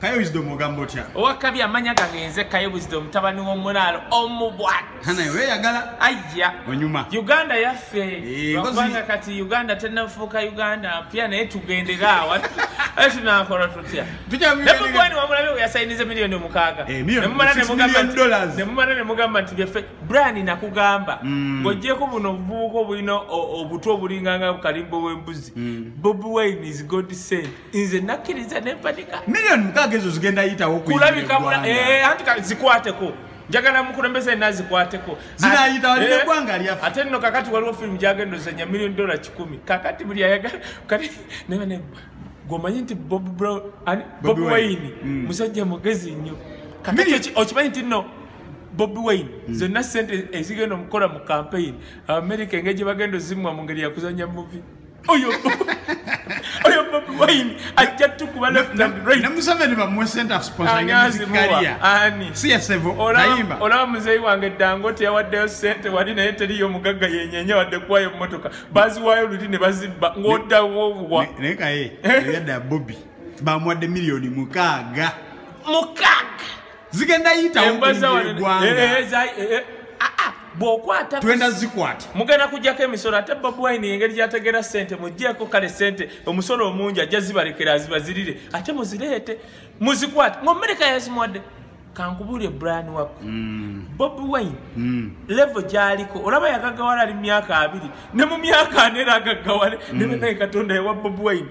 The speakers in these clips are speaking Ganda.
kaye wisdom ogamba otya owakabi amanya gagenze kaye wisdom mutabani womulaalo omubwatanaeweyagala ayya onyuma uganda yaffe eh, kubanga kati uganda tenafuuka uganda mpya naye tugendera awa tunakola tutya nemugwani wamulabe weyasayinize miliyoni omukaaga eh, nemumala nemugamba nti byaffe brani nakugamba mm. ngojeko buno obuvubuka obulina obutwa obulinganga bukalimbo wembuzi mm. bobi wine is god sent nze nakkiriza nempanika million mukaaga ezo zigenda yitawo kulabika eh, anti zikwateko njagala mukulembeza ena zikwateko zinayitawalinegwanga eh, lyaffe ate nno kakati waliwo firimu gyagenda ozanya million dollar kikumi kakati buli ayagala kati nabane gwomanyi nti bob brown bobi wayini mm. musajja mugezi nnyo kakati okimanyi nti nno bobi wayini mm. zonna sente ezigenda omukola mu kampeyini amerika engeri gye bagenda ozimwa mu ngeri yakuzanya muvi oyo oyo bobi wine ajja tukuba leftandrightnamuseveni bamuwe center of sponsorngmuzikaria ani siyasevo ayimba olaba muzeeyi wange dango teyawaddeyo sente wali naye teriyo omugagga yenyenya wadde kuwayo mmotoka baziwayo luli ne bazibba ng'odawobwa naye kaye yadda bobi bamuwadde miliyoni mukaaga mukaaga zigenda yitawoegwangagenda zikwata mugenda kujjako emisolo ate bob wine engeri gyategera sente mujjeeko kale sente omusolo omungi ajja zibalekera azibazirire ate muzireete muzikwate ngaomereka yazimuwadde kankubuulire brian wakku mm. bob wine mm. levo gyaliko olaba yagagawala ali mumyaka abiri ne mu myaka ana era agaggawale mm. ne benaye katonda yawa bobi wine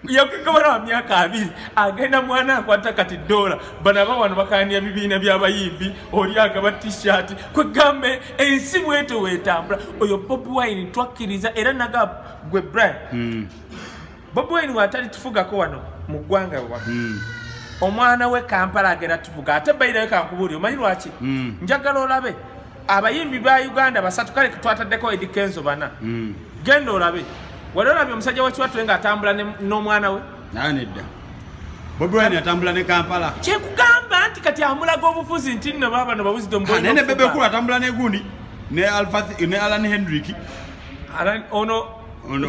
yakugabana wa myaka abiri agenda mwana akwata kati dola bana bawano bakaniya bibiina byabayimbi oli agaba tishati kwegambe ensi bweto wetambula oyo bobi wine twakkiriza era naga gwe brian mm. bobi wine watali tufugako wano mu ggwanga wano mm. omwana we kampala agenda tuvuga ate bairayo kankubuuli omanyi lwaki mm. njagala olabe abayimbi ba uganda basatu kale twataddeko edi kenzo bana mm. genda olabe wali olabye omusajja wakiwatule nga atambula n'omwana we naye nedda bobiwine atambula ne kampala kyekugamba nti kati amulaga obufuzi nti nno baaba no babuzi domuboine bebekulu atambula negundi ne alfath ne alan hendrik alan ono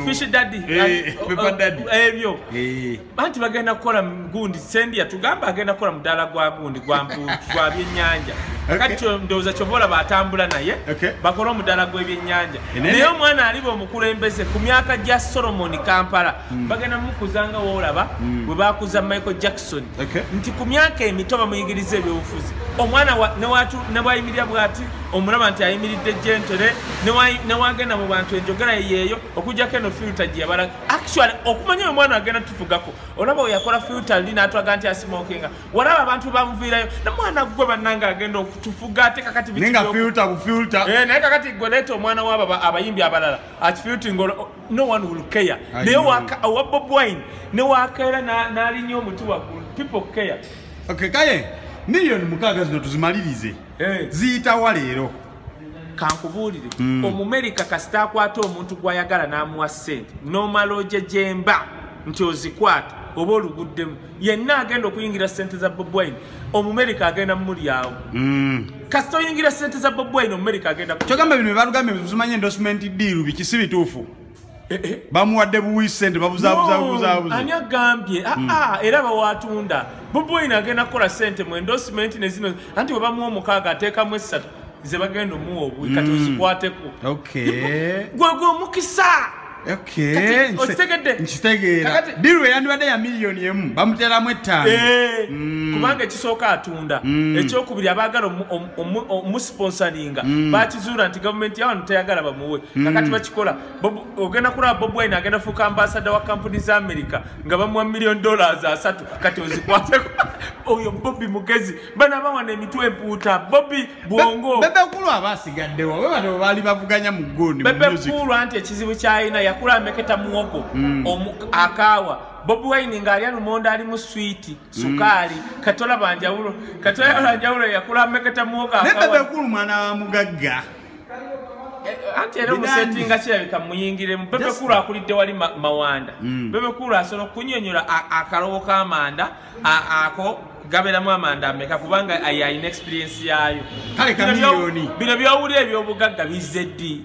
fish daddy eh, eh, eh, ebyo anti bagenda kukola gundi sendi yatugamba agenda kukola mudaala gwa gundi gwa byennyanja kati ndowooza kyova olaba atambula naye bakole omudaala gw'ebyennyanja naye omwana aliba omukulembeze ku myaka gya solomoni kampala hmm. bagenda mukuzanga woolaba hmm. bwe bakuza michael jackson nti ku myaka emito bamuyigiriza ebyobufuzi omwana ne bwayimirira bwati omulaba nti ayimiridde gentere ne wagenda mu bantu enjogera yeyeeyo okujjako eno filta gye yabala actually okumanya oyo mwana agenda tufugako olaba oyakola filter ndi natwaga nti asimokinga walaba abantu bamuviirayo na mwana gwe bananga agenda okutufuga ate kakati ninga filter ku filter eh naye kakati gwe leeta omwana waba abayimbi abalala akifilting no one will care naye owa bob wine ne wakaera nalinya omuti waggulu people care okay kaye million mukaaga zino tuzimalirize eh. ziyitawa leero kankubuulire mm. omumerika kasita akwata omuntu gwayagala n'amuwa ssente nomala oje gyemba nti ozikwata oba oluguddemu yenna agenda okuyingira sente za bobwine omumerika agenda mumulyawo mm. kasita oyingira sente za bobwine omumerika agenda kyogamba bino bebalugambye zimanye endosment diiru bikisi bituufu Eh, eh. bamuwadde buwi sente babuzabuzabuzabuzaani agambye aa ah, hmm. ah, era bawatunda boboyina agenda kukola sente mu endosimenti ne zino anti bwe bamuwa omukaaga ateekamu essatu ze bagenda omuwa obuwi kati hmm. ozikwateko gwegwe omukisa okitegeddediru eyandibadde ya miliyoni emu bamuteeramu ettaano eh, hmm. kubanga ekisooka atunda ekyokubiri abaagala omusponsoringa mm. bakizuula nti gavumenti yawano teyagala bamuwe mm. kakati bakikola ogenda kulaba bob wine agenda fuuka ambasada wa kampuni za amerika nga bamuwa million dollars asatu kati ozikwateko oyo bobi mugezi bana bawana emitwe empuuta bobi bwongo bebekulu aba asigaddewo bebano bebaali bavuganya mu gundi bebekulu anti ekizibu kyalina yakula ameketa muwogo mm. akaawa bobi wine ng'alya lumonda ali mu swiiti sukaali katola banjawulo katola banjawulo yakula meketa muwoka nebebe kulu mwana wa mugagga eh, eh, anti era omusetinga kirabika muyingire bebe kulu akulidde wali mawanda mm. bebe kulu asobola okunyonyola akalowo kamanda ako gaberamu amanda ameka kubanga ayina experience yayo bino byowulira ebyobugagga bizze ddi